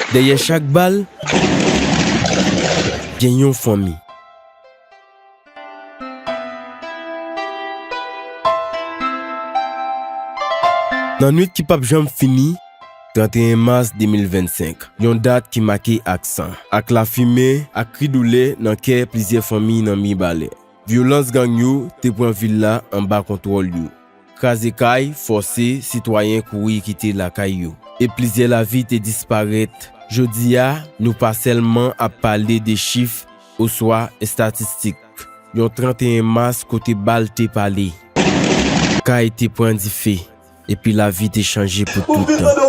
Dèyè chak bal, gen yon fanmi. Nan nwit ki pap janm fini, 31 mas 2025, yon dat ki make ak san, ak lafimen, ak kri doulè nan kè plizyè fanmi nan Mibalè, vyolans gang yo te pran vil la anba kontwòl yo. Kraze kay, fòse sitwayen kouri kite lakay yo, e plizyè lavi te disparèt. Jodi a, nou pa sèlman ap pale de chif oswa estatistik yon 31 mas kote bal te pale, kay te pran dife, epi lavi te chanje pou toutan.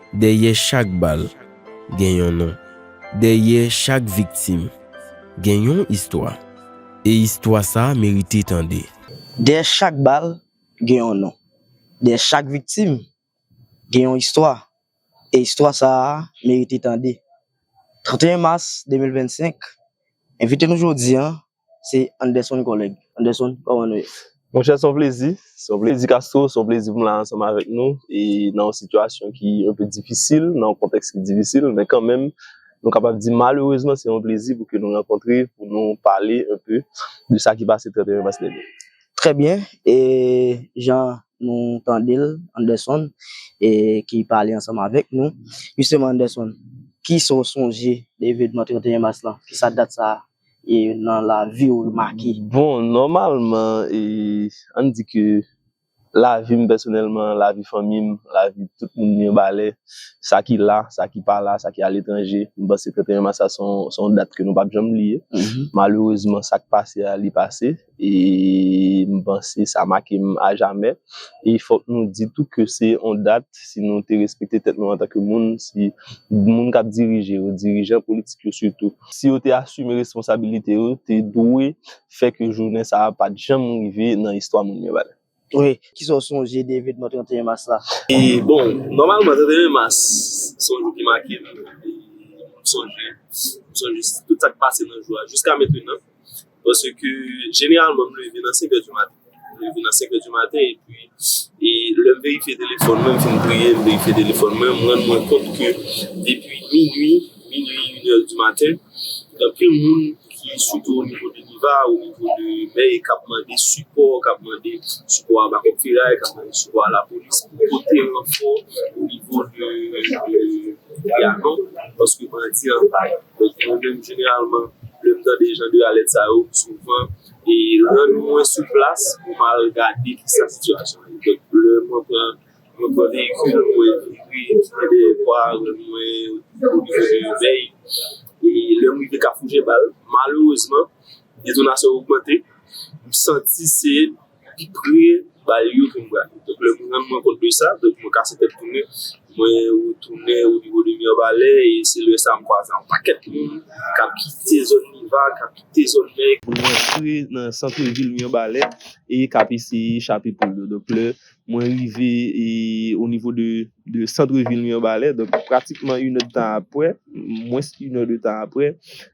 Dèyè chak bal, gen yon non. Dèyè chak viktim, gen yon istwa. E istwa sa merite tande. Dèyè chak bal, gen yon non. Dèyè chak viktim, gen yon istwa. E istwa sa merite tande. 31 mas 2025, envite nou jodi an Se Anderson Collègue. Anderson, kòman nou ye? Monchè, son plezi. Son plezi Castro, son plezi pou m la ansanm avèk nou e nan yon sitiyasyon ki enpe difisil, nan yon kontèks ki difisil men kanmenm nou kapab di malerezman se yon plezi pou ke nou rankontre pou nou pale enpe de sa ki pase 31 mas dènye. Trè byen, e jan nou tande l Anderson e ki pale ansanm avèk nou, jisteman Anderson, kisa w sonje de evenman 31 mas lan? Kisa dat sa e nan laviw remake. Bon nòmalman e ann di ke lavim pèsonèlman, lavi fanmim, lavi tout moun Mirebalè, sa ki la, sa ki pa la, sa ki aletranje, m panse 31 mas la se yon dat ke nou pap janm bliye. Malerezman sak pase a li pase. e m panse sa make m a jamè. E fòk nou di tou ke se yon dat, si nou te respekte tèt nou antanke moun, si moun k ap dirije yo, dirijan politik yo sitou, si yo te asime responsabilite yo, te dwe fè ke jounen sa a pa t janm rive nan istwa moun yo. Wi, kisa w sonje de evenman 31 mas la? Bon, nòmalman 31 mas se yon jou ki make m, m sonje, m sonje tout sa k pase nan jou a jiska mentenan, paske jeneralman m leve nan 5 è di maten, m leve nan 5 è di maten epi e lè m verifye telefòn mwen, m fin priye, m verifye telefòn mwen, m rann mwen kont ke depi minui. minui une heure du matin gen anpil moun ki sitou o nivo de niva o nivo de mèy kap mande sipò kap mande sipò a bakòk feray kap mande sipò a lapolis pou pote ranfò o nivo de yanou paske bandi an bay donk mwen menm jeneralman lèm tande jan de alèt sa yo m souvan e rann mwen sou plas pou mal gade kisa sitiyasyon an ye donk lè mwen pran Mwen konnen ke lè mwen ekri mwen de fwa mwen oblije de veye. E lè m rive kafou jebal malerezman detonasyon yo ogmante m santi se pi pre bal yo ke m prale. Donk lè m rann mwen kont de sa donk mwen kase tèt tounen mwen retounen o nivo de Mirebalè e se lè sa m kwaze ak yon pakèt moun k ap kite zòn Miva, k ap kite zòn Mèy pou rantre nan santre vil Mirebalè e k ap eseye chape poul yo. Donk lè. Mwen rive o nivo de centre ville Mirbalais, donk pratikman inè de tan aprè, mwens inè de tan aprè,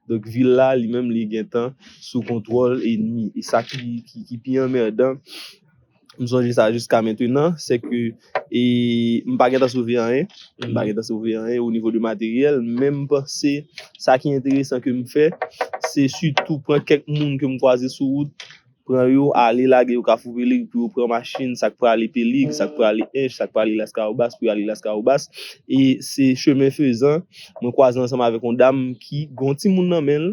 donk vil la li menm li gen tan sou kontwòl enmi. E sa ki pi anmèdan, m sonje sa jiska mentenan, se ke m pa gen tan sove anyen, m pa gen tan sove anyen o nivo de materyèl, men m panse sa ki enteresan ke m fè, se sitou pran kèk moun ke m kwaze sou wout, Pran yo ale lage yo kafou pelig pou yo pran machin sak prale pelig sak prale ench sak prale laskawobas pou yo ale laskawobas e se chemen fezan mwen kwaze ansanm avèk yon dam ki gen yon timoun nan menl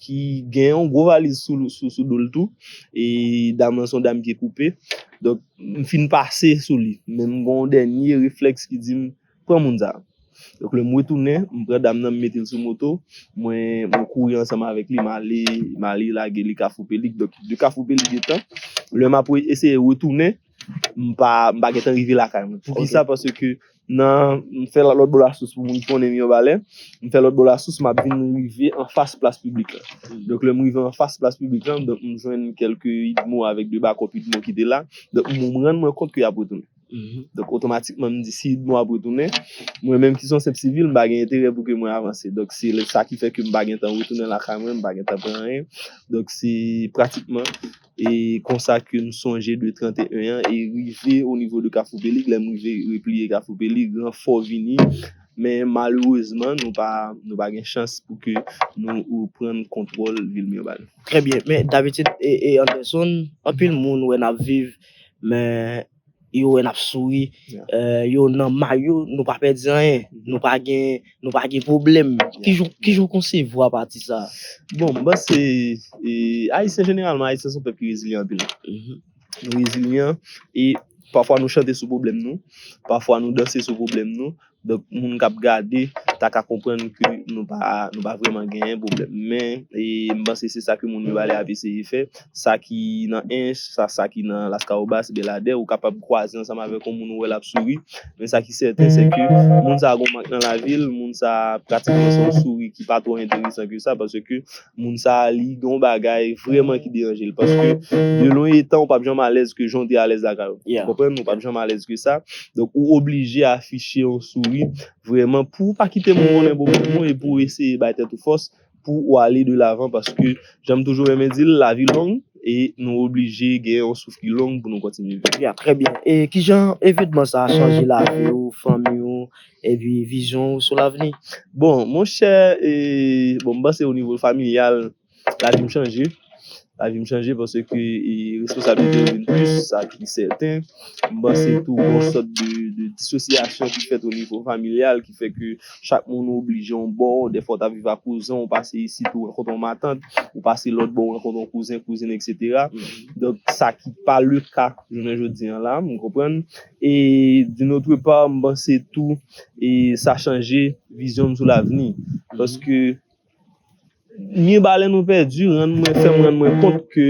ki gen yon gwo valiz sou dol tou e dam lan se yon dam pye koupe donk m fin pase sou li men m gen yon dènye reflèks ki dim Pran moun sa. Donk lè m retounen, m pran dam nan m mete l sou moto, mwen mwen kouri ansanm avèk li, m ale m ale lage li Kafou Pelig. Donk de Kafou Pelig etan, lè m ap eseye retounen, m pa m pa gentan rive lakay mwen. Poukisa? Paske nan m fè lòt bò lasous pou moun konnen Mirebalè, m fè lòt bò lasous m ap vin rive anfas plas piblik la. Donk lè m rive anfas plas piblik la, donk m jwenn kèlke idmo avèk de bakòp idmo ki te la. Donk m rann mwen kont ke y ap retounen. Donk otomatikman m di si nou ap retounen, mwen menm ki son senp sivil m pa gen enterè pou ke mwen avanse. Donk se sa ki fè ke m pa gen tan retounen lakay mwen, m pa gen tan pran anyen. Donk se pratikman e konsa ke m sonje de 31 an e rive o nivo de Kafou Pelig. Lè m rive repliye Kafou Pelig, ranfò vini men malerezman nou pa nou pa gen chans pou ke nou reprann kontwòl vil Mirbalè. Trè byen. Men dabitid e e Anderson, anpil moun wè n ap viv Men yo wè nap souri yo nan may yo nou pa pèdi anyen nou pa gen nou pa gen pwoblèm kijan ou konsevwa pati sa bon m panse ayisyen jeneralman ayisyen son pèp ki rezilyan anpil nou rezilyan e pafwa nou chante sou pwoblèm nou pafwa nou danse sou pwoblèm nou Donk moun kap gade ta ka konprann ke nou pa nou pa vreman genyen pwoblèm men e m panse se sa ke moun yo ale ap eseye fè sa ki nan Ench sa sa ki nan Laskawobas Beladè ou kapab kwaze ansanm avèk yon moun ou wè lap souri men sa ki sèten se ke moun sa gon mank nan lavi l moun sa pratiman se yon souri ki pa twò enteresan ke sa paske moun sa a li gen yon bagay vrèman ki deranje l paske de lwen etan ou pap janm alèz ke jan w te alèz lakay ou ou konprann ou pap janm alèz ke sa donk ou oblije afiche yon souri vrèman pou ou pa kite moun konnen bon pou bon e pou ou eseye bay tèt ou fòs pou ou ale de lavan paske jan m toujou renmen di l lavi long e nou oblije gen yon souf ki long pou nou kontinye viv. Ya trè byen e kijan evenman sa a chanje lavi ou fanmi ou. Epi vizyon ou sou lavni. Bon monchè e bon m panse o nivo familyal lavi m chanje, lavi m chanje paske e responsablite yo vin plis sa ki sèten. M panse tou gon sòt de de disosyasyon ki fèt o nivo familyal ki fè ke chak moun ou oblije yon bò, dèfwa w ta viv a kouzen w pase isit ou rankontre yon matant, ou pase lòt bò ou rankontre yon kouzen, kouzin eksetera. Donk sa ki pa le ka jounen jodi an la, m konprann. E d'une autre part m panse tou e sa chanje vizyon m sou lavni paske Mirebalais nou pèdi rann mwen fè m rann mwen kont ke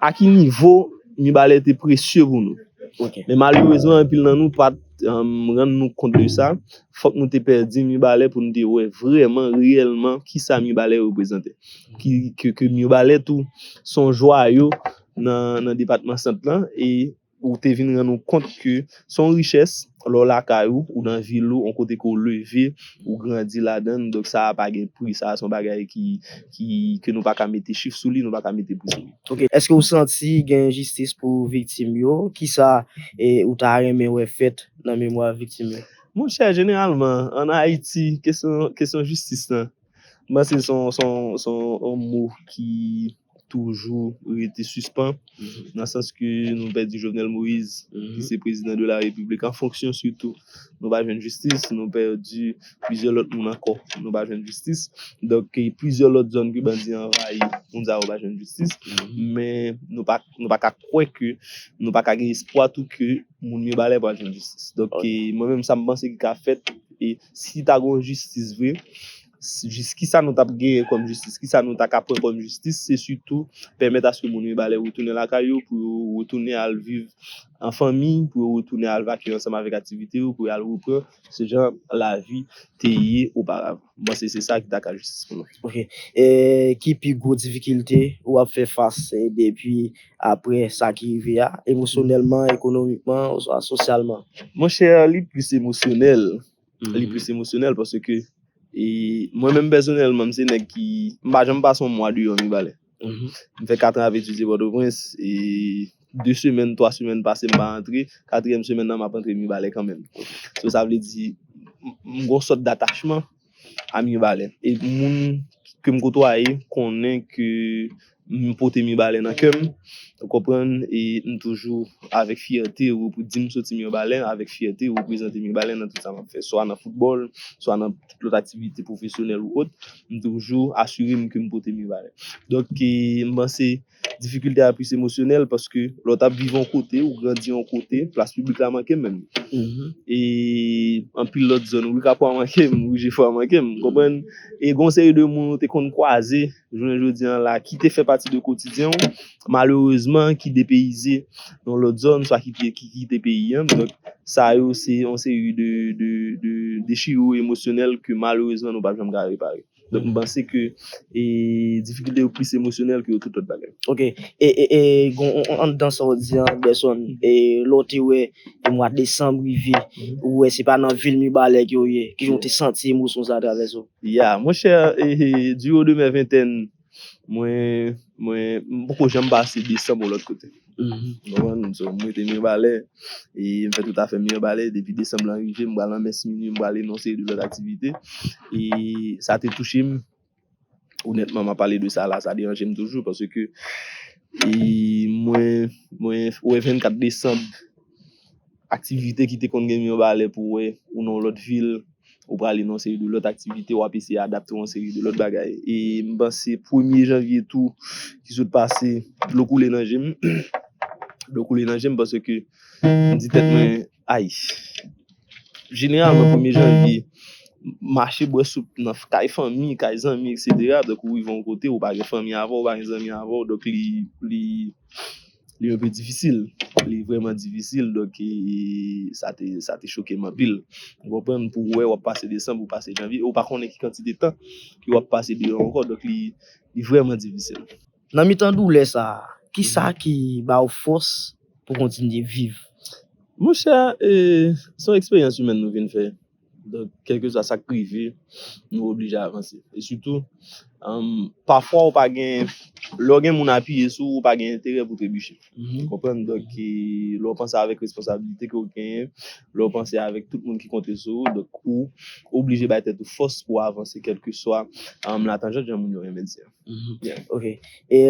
a ki nivo Mirebalais te presye pou nou. Men malerezman anpil nan nou pat rann nou kont de sa, fòk nou te pèdi Mirebalais pou nou te wè vrèman reyèlman ki sa Mirebalais reprezante. Ke Mirebalais tou son jwayo nan depatman sant lan e. Ou te vin rann ou kont ke se yon richès lè w lakay ou, ou nan vil ou, yon kote ke w leve, ou grandi ladan l. Donk sa a pa gen pri. Sa a se yon bagay ki, ki, ke nou pa ka mete chif sou li, nou pa ka mete pri sou li. Ok. Eske ou santi gen enjistis pou viktim yo? Kisa ou ta renmen wè fèt nan memwa viktim yo? Monchè, jeneralman, an Ayiti, kesyon, kesyon jistis lan, m panse se yon, se yon, se yon mo ki. toujou rete sispan nan sans ke nou pèdi Jovenel Moïse ki se prezidan de la repiblik an fonksyon sitou nou pa jwenn jistis, nou pèdi plizyè lòt moun ankò nou pa jwenn jistis donk ki plizyè lòt zòn ke bandi yo anvayi moun sa yo pa jwenn jistis men nou pa nou pa ka kwè ke nou pa ka gen espwa tou ke moun Mibalè pral jwenn jistis donk mwen menm sa m panse ki ka fèt e si ta gon jistis vre. jis kisa nou tap genyen kòm jistis, kisa nou ta ka pran kòm jistis, se sitou pèmèt aske moun Mibalè retounen lakay yo, pou yo retounen al viv an fanmi, pou yo retounen al vakye ansanm avèk aktivite yo, pou yo al repran se jan lavi te ye oparavan. M panse se sa ki ta ka jistis pou mwen. Ok. E ki pi gwo difikilte ou ap fè fas depi aprè sa ki rive a, emosyonèlman, ekonomikman oswa sosyalman? Monchè, li plis emosyonèl. li plis emosyonèl paske mwen menm pèsonèlman m se nèg ki m pa janm pase yon mwa deyò Mibalè m fè katran ap etidye Pòtoprens e de semèn twa semèn pase m pa antre katriyèm semèn nan m ap antre Mibalè kanmenm sou sa vle di m gon sòt datachman a Mibalè e moun ke m kotwaye konnen ke M pote Mibalè nan kè m, ou konprann, e m toujou avèk fyète di m soti Mirbalè, avèk fyète reprezante Mibalè nan tout sa m ap fè, swa nan foutbòl, swa nan tout lòt aktivite pwofesyonèl ou ot, m toujou asire m ke m pote Mibalè. Donk, m panse difikilte a plis emosyonèl paske lè w t ap viv yon kote, ou grandi yon kote, plas piblik la manke m menm. E anpil lòt zòn, Rue Kapwa manke m, Rue Jefwa manke m, ou konprann? E gen yon seri de moun ou te konn kwaze. jounen jodi an la, ki te fè pati de kotidyen w, malerezman ki depeyize nan lòt zòn, swa ki kite peyi an, donk sa yo se yon seri de dechirou emosyonèl ke malerezman nou pap janm ka repare. Donk m panse ke difikilte yo plis emosyonèl ke tout lòt bagay. Ok, e gen anndan sa w di an Anderson, lè w te wè mwa desanm rive, ou wè se pa nan vil Mibalè ke w ye, kijan w te santi emosyon sa a travèse w? Yeah mon chè du haut de mes vingtaine mwen mwen m poko janm pase desanm yon lòt kote ou konprann m so m rete Mirebalais e m fè tout afè m Mirebalais depi desanm lan rive m pral nan mès minui m pral e yon seri de lòt aktivite e sa te touche m onètman m ap pale de sa la sa deranje m toujou paske e mwen mwen wè 24 desanm Aktivite ki te konn gen Mirbalè pou wè ou nan yon lòt vil, ou prale nan yon seri de lòt aktivite, wap eseye adapte w yon seri de lòt bagay. E m panse premye janvye tou ki sot pase, dlo koule nan je m, dlo koule nan je m paske m di tèt mwen ay. Jeneralman premye janvye, mache bwè soup nan kay fanmi, kay zanmi eksetera, donk ou rive yon kote ou pa gen fanmi avè w, ou pa gen zanmi avè w, donk li, li. Li yon pi difisil, li vreman difisil, donk ki sa te, sa te choke m anpil. Ou konprann, pou wè wap pase desanm, ou pase janvye, ou pa konnen ki kantite tan ki wap pase deyò ankò, donk li, li vreman difisil. Nan mitan doulè sa, ki sa ki ba ou fòs pou kontinye viv? Monchè, e, son eksperyans imèn nou vin fè. Donk, kèlkeswa sa k rive, nou oblije avanse. E sitou, pafwa ou pa gen, lè w gen moun apiye sou ou, ou pa gen enterè pou w trebiche. Ou konprann? Donk, lè w panse avèk responsabilite ke w genyen, lè w panse avèk tout moun ki konte sou ou, donk ou oblije bay tèt ou fòs pou w avanse kèlkeswa latanjant, jan moun yo renmen di a. Ok. E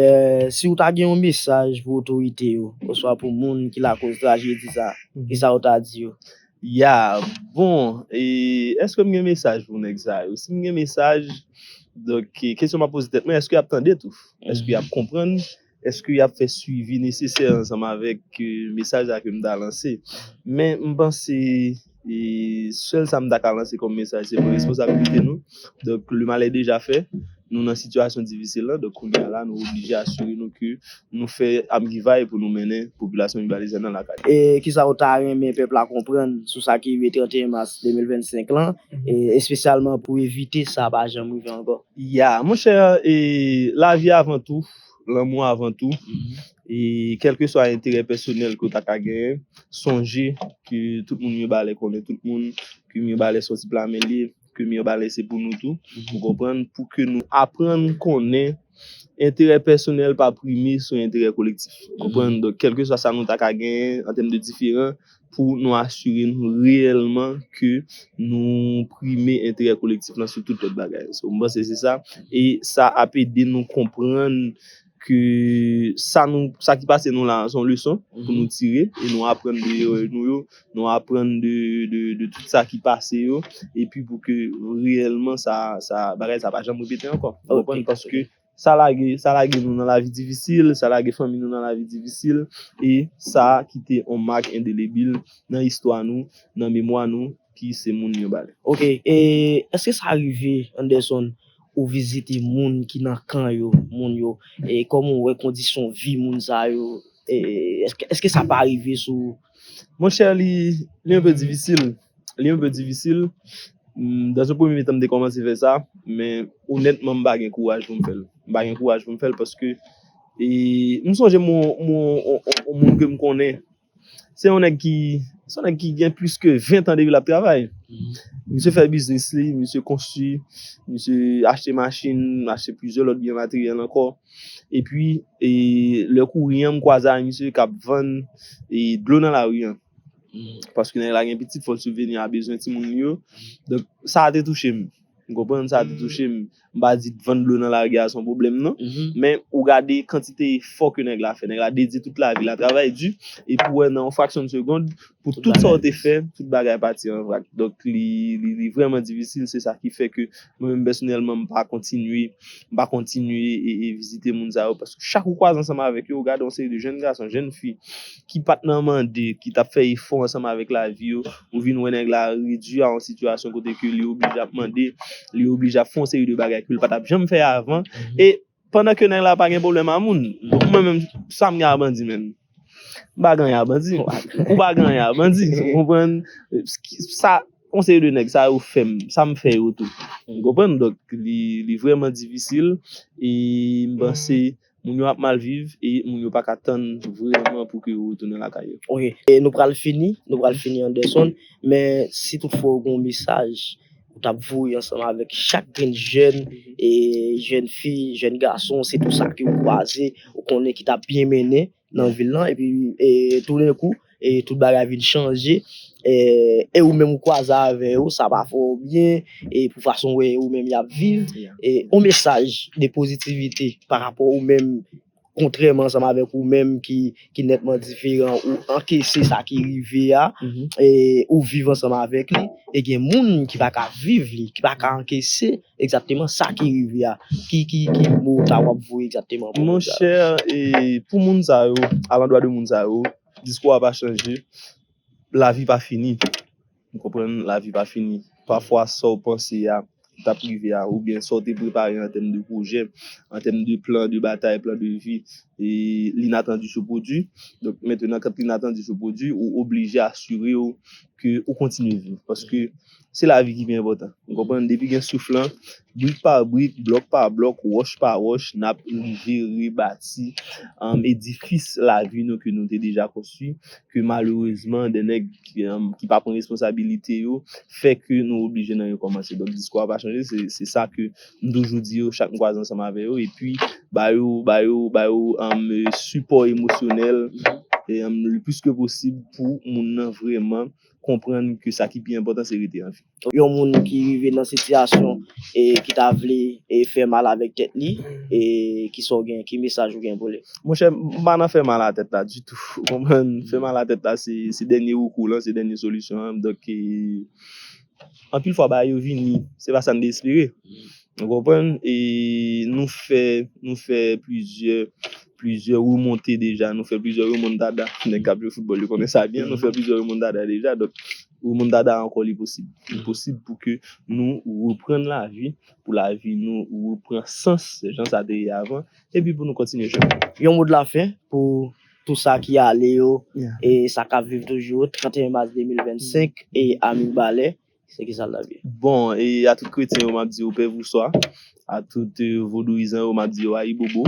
si ou ta gen yon mesaj pou otorite yo, oswa pou moun ki lakoz trajedi sa a, kisa ou ta di yo? Ya bon e eske m gen mesaj pou nèg sa yo si m gen mesaj donk kesyon m ap poze tèt mwen eske y ap tande tou eske y ap konprann eske y ap fè swivi nesesè ansanm avèk mesaj la ke m ta lanse men m panse e sèl sa m ta ka lanse kòm mesaj se pran responsabilite nou donk le mal est dejà fè nou nan sitiyasyon difisil la donk kounye a la nou oblije asire nou ke Nou fè amgivay pou nou mennen popilasyon Mibalezyen nan lakay. E kisa ou ta renmen pèp la konprann sou sa ki rive 31 mas 2025 lan, espesyalman pou evite sa pa janm rive ankò? Ya, monchè, e lavi avan tou, lanmou avan tou, e kèlkeswa enterè pèsonèl ke w ta ka genyen, sonje ke tout moun Mibalè konnen tout moun, ke Mibalè sòti plamen liv. ke Mirbalais se pou nou tou, ou konprann, pou ke nou aprann konnen enterè pèsonèl pa prime sou enterè kolektif. Ou konprann? Donk, kèlkeswa sa nou ta ka genyen an tèm de diferan, pou nou asire nou reyèlman ke nou prime enterè kolektif lan sou tout lòt bagay. Mwen panse se sa. E sa ap ede nou konprann. Ke sa nou, sa ki pase nou la, son leson pou nou tire, e nou aprann de erè nou yo, nou aprann de tout sa ki pase yo, e pi pou ke reyèlman sa, sa, bagay sa pa janm repete ankò. Ou konprann? Paske sa lage, sa lage nou nan lavi difisil, sa lage fanmi nou nan lavi difisil, e sa kite yon mak endelebil nan istwa nou, nan memwa nou, ki se moun yo ba li. Ok e eske sa rive Anderson ou vizite moun ki nan kan yo moun yo e koman ou wè kondisyon vi moun sa yo e eske sa pa rive sou ou. Mon chè li yon pe difisil li yon pe difisil dans yon premye tan m te komanse fè sa men onètman m pa gen kouraj pou m fè l m pa gen kouraj pou m fè l paske e m sonje m wè yon moun ke m konnen. Se yon nèg ki, se yon nèg ki gen plis ke 20 tan depi l ap travay. Misye fè biznis li, misye konstwi, misye achte machin, achte plizyè lòt byen materyèl ankò. Epi, lè kouri an, m kwaze ak misye k ap vann dlo nan lari an. Paske nèg la gen pitit, fò l sibveni a bezwen timoun li yo. Donk, sa a te touche m. Ou konprann? Sa a te touche m. m pa di vann dlo nan lari a se yon pwoblèm non, men ou gade kantite efò ke nèg la fè, nèg la dedye tout lavi l a travay di, epi ou wè nan yon fraksyon de segond, pou tout sa ou te fè, tout bagay pati an vrak. Donk li vrèman difisil, se sa ki fè ke mwen menm pèsonèlman m pa kontinye, m pa kontinye vizite moun sa yo, paske chak ou kwaze ansanm avèk yo, ou gade yon seri de jenn gason, jenn fi. ki pat nan mande, ki tap fè efò ansanm avèk lavi yo, ou vin wè nèg la redwi a yon sitiyasyon kote ke li oblije ap mande, li oblije ap fè yon seri de bagay ke li patap janm fè avan, e pandan ke nèg la pa gen pwoblèm a moun, donk mwen menm sam gen a bandi menm? M pa gen anyen a bandi, ou pa gen anyen a bandi, ou konprann, sa yon seri de nèg sa yo fèm, sam fè yo tou, ou konprann, donk li vrèman difisil, e m panse. Moun yo ap mal viv e moun yo paka tann vreman pou ke yo retounen lakay yo. Ok e nou pral fini nou pral fini Anderson men si tout fwa ou gen yon mesaj ou tap voye ansanm avèk chak grenn jèn e jèn fi jèn gason sitou sa ke ou kwaze ou konnen ki tap byen mennen nan vil lan epi toudenkou tout bagay vin chanje e ou menm ou kwaze avè yo sa pa fè w byen e pou fason wè ou menm y ap viv e yon mesaj de pozitivite pa rapò ou menm kontrèman ansanm avèk ou menm ki nètman diferan ou ankese sa ki rive a ou viv ansanm avèk li e gen moun ki pa ka viv li ki pa ka ankese. Exactement sa ki rive a. Ki ki ki mo sa wap voye exactement pou moun sa yo. Monchè pou moun sa yo a landwa de moun sa yo diskou a pa chanje lavi pa fini ou konprann lavi pa fini pafwa sa w panse a ki tap rive a oubyen sa w te prepare an tèm de pwojè an tèm de plan de batay plan de vi l'inattendu se pwodwi donk mentenan kan l'inattendu se pwodwi ou oblije asire w ke ou kontinye viv paske Se lavi ki pi enpòtan. Ou konprann? Depi gen souf lan, brik pa brik, blòk pa blòk, wòch pa wòch, n ap rive rebati edifis lavi nou ke nou te deja konstwi, ke malerezman de nèg ki pa pran responsabilite yo fè ke nou oblije nan rekòmanse. Donk diskou a pa chanje, se sa ke m toujou di yo chak m kwaze ansanm avè yo, epi ba yo, ba yo, ba yo sipò emosyonèl le plis ke posib pou moun nan vrèman konprann ke sa ki pi enpòtan se rete an vi. Yon moun ki rive nan sitiyasyon ki ta vle fè mal avèk tèt li, ki sa w gen, ki mesaj ou gen pou li? Monchè, m pa nan fè mal a tèt la ditou, ou konprann? Fè mal a tèt la se dènye rekou lan, se dènye solisyon an, donk anpil fwa bagay yo vini, se pa sa n te espere. Ou konprann? E nou fè, nou fè plizyè, plizyè remonte deja, nou fè plizyè remontada, nèg k'ap jwe foutbòl yo konnen sa byen, nou fè plizyè remontada deja, donk remontada ankò li posib. Li posib pou ke nou reprann lavi, pou lavi nou repran sans jan sa te ye avan, epi pou nou kontinye chemen an. Yon mo dlafen pou tou sa ki ale yo e sa k'ap viv toujou, 31 mas 2025 e a Mibalè, Se ki sa l tap ye? Bon, e a tout kretyen yo map di yo pèvouswa, a tout vodouyizan yo map di yo ayibobo,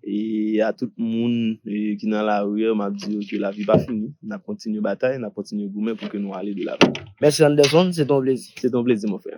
e a tout moun ki nan lari yo map di yo ke lavi pa fini, nap kontinye batay, nap kontinye goumen pou ke nou ale de lavan. Mèsi Anderson, se te yon plezi. Se te yon plezi mon frè.